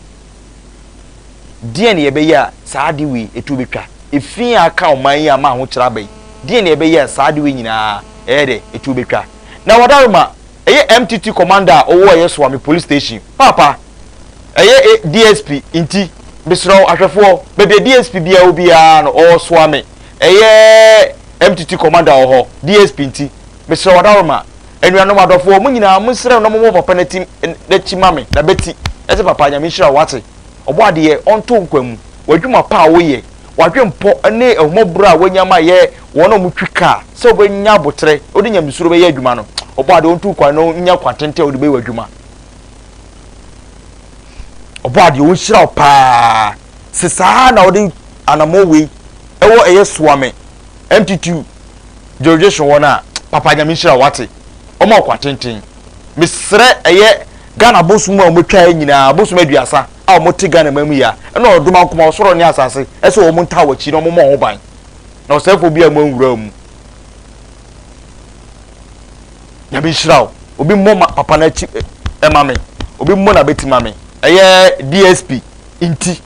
Deɛn na ɛbɛyɛ a saa ade wei ɛtuo bɛtwa? Efi a aka ɔman yi ama ahokyerɛ aba yi, deɛn na ɛbɛyɛ a saa ade wei nyinaa ɛyɛ dɛ ɛtuo bɛtwa? Na Wadaroma, ɛyɛ MTT Commander a ɔwɔ ɛyɛ Soame Police Station, Paapa, ɛyɛ A DSP, nti, mesrɛ wo, ahwɛfoɔ, baabi a DSP biara wɔ biara no, ɔwɔ Soame, ɛyɛ MTT Commander wɔ hɔ, DSP nti, mesrɛ Wadaroma, Anuanom adɔfoɔ, mo nyinaa monsrɛ no na mommɔ papa no ti n'akyi ma me, na bɛti, na sɛ papa, Nyame nhyira wo, wate? Ɔbɔ adeɛ, ɔnto nkwa mu, w'adwuma pa a woyɛ, w'adwenpɔ ne ahummɔborɔ a woanya ma yɛ wɔn a wɔtwi kaa, sɛ wobɛnya aboterɛ na wode nyamesuro bɛyɛ adwuma no, ɔbɔ adeɛ, ɔnto nkwa na ɔnya kwan tenten a wode bɛyɛ w'adwuma. Ɔbɔ adeɛ, ɔnhyira wo pa ara, sɛ saa ara na wode anamɔ wei ɛwɔ ɛyɛ soa me, MTTU, George so wɔn a papa nyame nhyira wo wate wɔn a ɔkwa tenten mesrɛ ɛyɛ Ghana bosom a wɔn twa nyinaa bosom aduasa a wɔn te Ghana man mu yia ɛna ɔdoma nkoma ɔsoro ne asase ɛsɛ wɔn ntaa wɔ akyi na wɔn mɔ ho ban na ɔsɛfo bi a wɔn nwura mu nyame nhyira wo obi mmɔ ma papa na akyi ɛma me obi mmɔ na bɛti ma me ɛyɛ DSP nti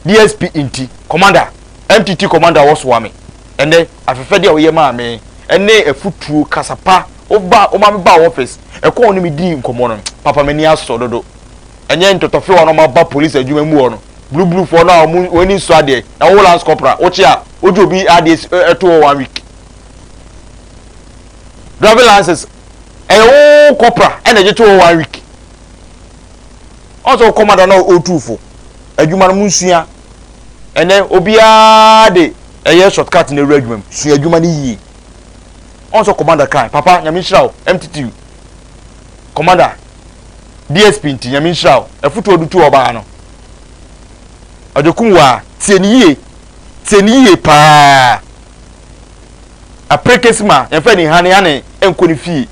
DSP nti commander NTT Commander wɔsoa me ɛnɛ afɛfɛde a woyɛ maa me ɛne afutuo kasa pa woba woma me baa office ɛkwan wo ne me dii nkɔmɔ no papa m'ani asɔ dodo ɛnyɛ ntɔtɔfewa no ɔma ba police adwuma mu hɔ no blublufoɔ no a ɔmo wɔn ani nsɔ adeɛ na wo lance corporal wokye a wogye obi adeɛ ɛto hɔ one week driving lances ɛyɛ wo corporal ɛna ɛgye to hɔ one week ɔsɛ wo commander na ɔtuufo adwuma no mo nsua Ɛnnɛ obiara de ɛyɛ short cut na ɛwura adwuma mu. Sua adwuma no yie. Ɔn sɛ commander kan, papa nyame nhyira wo, MTT commander, DSP nti nyame nhyira wo, afutuo ɔde tu ɔbaa no. Ɔde kum waa, tie ne yie, tie ne yie paa. Aprekesi ma yɛmfa ni hane hane ɛnkɔ ne fie.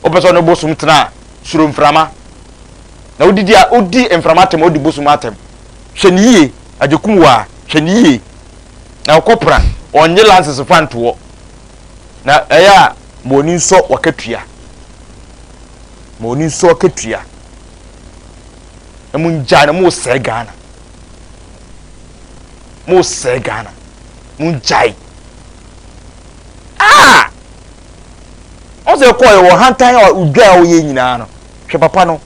Wopɛ sɛ ɔne bosom tena a, suro mframa. Na odidi a odi mframa atɛm a odi bosom atɛm. Hwɛ no yie, agyekum waa, hwɛ no yie. Na ɔkɔ pra, ɔnnye lances fa ntoɔ. Na ɛyɛ a ma ɔni nsɔ wakatua. Ma ɔni nsɔ wakatua. Na mo ngyaa no, mo sɛɛ Ghana. Mo sɛɛ Ghana. Mo ngyae. Ah! Ɔsɛ ɛkɔɔ yɛ wɔ hantan a odwa a ɔyɛ nyinaa no. Hwɛ papa no,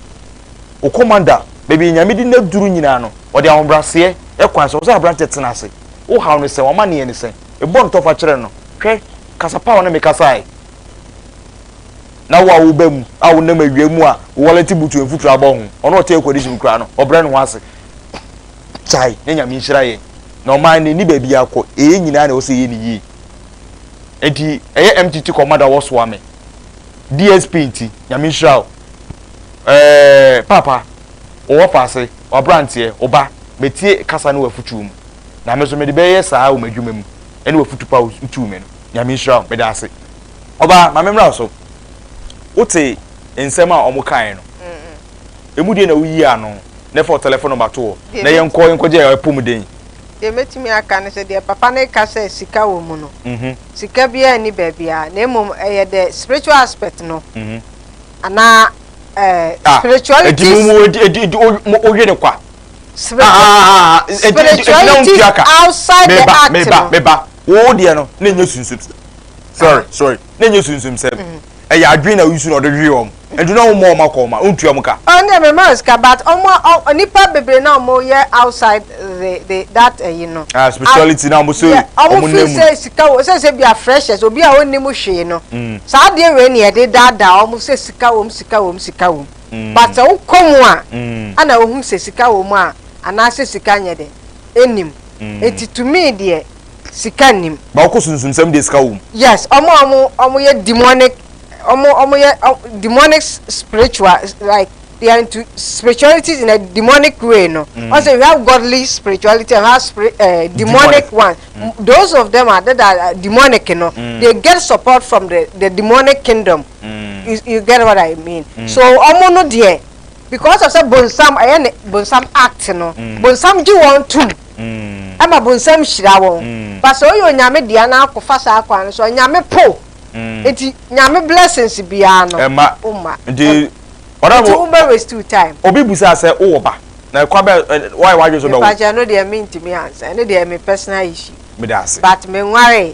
wo commander, baabi a Nyame de no aduru nyinaa no, ɔde ahobraseɛ kwan sɛ ɔsɛ aberanteɛ tena ase. Wo haw no sɛn? W'amaneɛ ne sɛn? Bɔ no tɔfa kyerɛ no. Hwɛ, kasa pa a wo ne me kasaeɛ. Na wo a wo ba mu a wo nam awia mu a wo wallet butu mfuturo abɔ ho, ɔno a ɔte air condition koraa no, ɔbrɛ ne ho ase. Kyae, na Nyame nhyira yɛn. Na ɔman no nni baabi akɔ, ɛyɛ nyinaa na ɛwɔ sɛ yɛyɛ no yie. Enti ɛyɛ MTT commander a wɔsoa me. DSP nti Nyame nhyira wo ɛɛɛ paapa owɔ paase wabranteɛ oba metie kasa ne wafutuo mu na me so mede bɛyɛ saa wɔ madwuma mu ɛne wafutu pa wotuu me no Nyame nhyira wo medaase oba ma me mmra so wote nsɛm a ɔmo kaeɛ no emu deɛ na woyi ano na fa wo tɛlɛfon nɔmba to hɔ na yɛnkɔ yɛnkɔgye apomuden. Deɛ mɛtumi aka ne sɛ deɛ papa no reka sɛ sika wɔ mu no Sika biara nni baabiara na mmom ɛyɛ the spiritual aspect no anaa eh, ah, spirituality. Edi mu edi edi edi oye ne kwa. Spirituality outside the act no. Meba meba meba. Wo deɛ no na enye sunsum. Sorry sorry na enye sunsum sɛm. ɛyɛ adwene na nsu na ɔde hwee wɔn nti na ɔmmɔ wɔn akɔ wɔn a ɔntua wɔn ka. Ɔn deɛ mɛma wɔn sika but wɔn a nipa bebree na wɔn yɛ outside the the that ɛyi no. Ah spirituality na wɔn so wɔn nna mu no. Wɔn feel sɛ sika wɔ sɛ sɛ bia freshers obi a ɔnni mu hwee no saa adeɛ wei na yɛde daadaa wɔn sɛ sika wɔ mu sika wɔ mu sika wɔ mu but sɛ wokɔ mu a ɛna wohu sɛ sika wɔ mu a anaasɛ sika nyɛ dɛ ɛnni mu nti to me deɛ. sika nnim. Ba wokɔ sunsumsɛm deɛ sika wom. Yes ɔmo a ɔmo yɛ demonic ɔmo ɔmo yɛ demonic spiritual like they are into spirituality in a demonic way no. Mm. Ɔsɛ we have godly spirituality and we have spirit uh, eh, demonic, demonic one. Mm. Those of them are that are uh, demonic you know. Mm. They get support from the the demonic kingdom. Mm. You, you get what I mean? Mm. So ɔmo no deɛ because of sɛ bonsam ɛyɛ ne bonsam act no mm. bonsam gye wɔn tum. ɛma bonsam hyira wɔn ba sɛ ɔyɛ onyame dea na ako fa saa kwan no so a nyame po nti nyame blessings biara no ɛma ɔma nti ɔdɔfo wo bɛ waste your time obi busa sɛ wowɔ ba na ɛkwa bɛ wayɛ wadwe so bɛ wo mepakyɛ no deɛ mentumi ansa ɛno deɛ me personal issue but me nware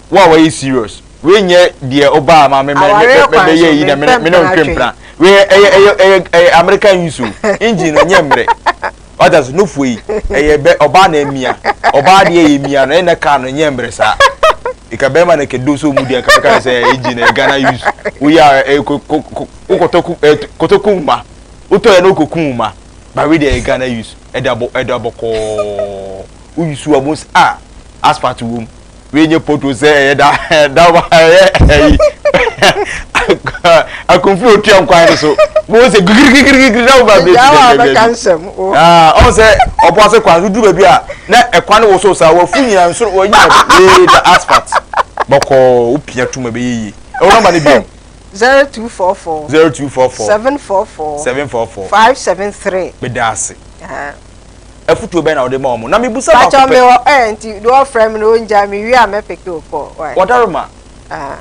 Wo a wayɛ serious. Wei nyɛ deɛ ɔbaa ma me mɛ mɛ mɛ mɛ yɛ yi na mene mene ɔntwe mpena. Wei ɛyɛ ɛyɛ ɛyɛ ɛyɛ American use o. Engine no nyɛ mmerɛ. Wata so nufoɔ yi ɛyɛ bɛ ɔbaa na ɛmia. Ɔbaa deɛ yɛ mia no ɛna car no nyɛ mmerɛ saa. Eka bɛrima na kɛdo so mu deɛ kɛfɛ kan sɛ ɛyɛ engine ɛyɛ Ghana use. Wo yɛ a ɛyɛ ko ko ko wokɔtɔ ko ɛɛ kɔtɔ ko nwuma. Wotɔ yɛ na wokɔ ko nwuma. Ba wei deɛ ɛyɛ Ghana use ɛda bɔ ɛda bɔkɔɔ. woyi su ɔmo s ah asphalt wɔ mu wei nye pothole sɛ ɛyɛ da da wa ɛyɛ ɛyi akunfin otua nkwan no so mo sɛ gigirigirigiri na ɔmo abirikyi gɛgɛgɛ aa ɔmo sɛ ɔbo ase kwan so duru baabi a na ɛkwan no wosow saa wɔfu nyina nsoro wɔn nyina wei da asphalt bɔkɔɔ wopia tum ɛbɛyɛ yie ɛwɔ nɔmba no biom. zero two four four. zero two four four. seven four four. seven four four. five seven three. meda ase. afutuo bɛn na wode ma wɔn na mebusa baako pɛ. Pakyɛ me wɔ ɛɛ nti de wɔfrɛ me na wɔngya me wie a mɛpeke wo kɔ wae. Wɔdare ma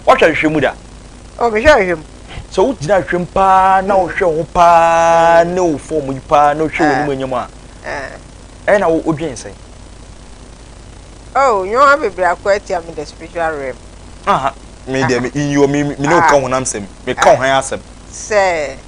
wɔhwɛ ahwehwɛ mu da. O mehwɛ ahwehwɛ mu. Sɛ wogyina ahwehwɛ mu paa na wohwɛ ho paa ne wo fɔm yi paa na wohwɛ w'anim anyam a ɛyɛ na wodwen sɛn? Oh, nneɛma bebree akɔ atia me the spiritual realm. Aha, me deɛ me nyiwa me ne wo ka honam sɛm, me ka ho asɛm. Sɛ.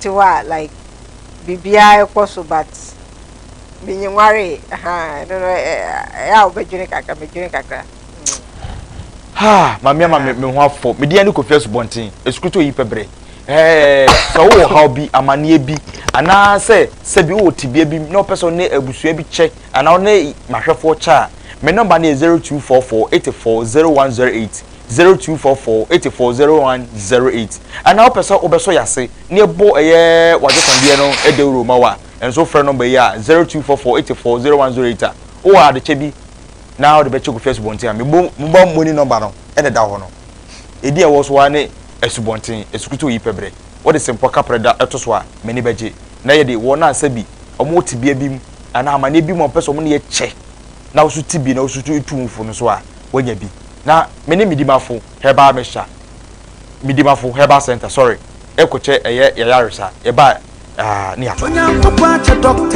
te hɔ a like biribiaa ɛkɔ so but menwaree ahaa ɛno no ɛyɛ a wobɛdwene kakra medwene kakra haa mame ama me ho afɔ mede yɛ ne kɔfi asubɔnten ɛsukuru sɛ oyi pɛ berɛ sɛ wowɔ haw bi amanneɛ bi anaasɛ sɛ bi wowɔ tebea bi na wopɛ sɛ ne abusua bi kyɛ Ana wo ne m'ahwɛfoɔ kyɛ a? Me nɔmba no yɛ zero two four four eighty four zero one zero eight, zero two four four eighty four zero one zero eight. Ana wopɛ sɛ wobɛsɔ yɛn ase na yɛbɔ ɛyɛ w'agyenkwadeɛ no dawuro ma wo a, ɛnso wofrɛ nɔmba yi a, zero two four four eighty four zero one zero eight a. Wowɔ adekyɛ bi na wode bɛkyɛ Kofi Asubɔnten a, me bo mo ba mu ani nɔmba no na ɛda hɔ no. Edin a ɛwɔ so ara ne Asubɔnten, Esukutu Oyi Pɛbrɛ. Wode Sempɔ Kaprɛ da to so a, m'ani bɛgye. Na yɛde wɔn a sɛbi wɔwɔ tebea bi mu anaa amanneɛ bi mu a wɔpɛ sɛ wɔn ne yɛ kyɛ na woso ti bi na woso tu tu mfo no so a, woanya bi. Na me ne Midimafo Herbal Mixture, Midimafo Herbal Centre, sorry, rekɔkyɛ ɛyɛ yɛn ayaresa. Yɛbaa, ah, ne yɛakɔ.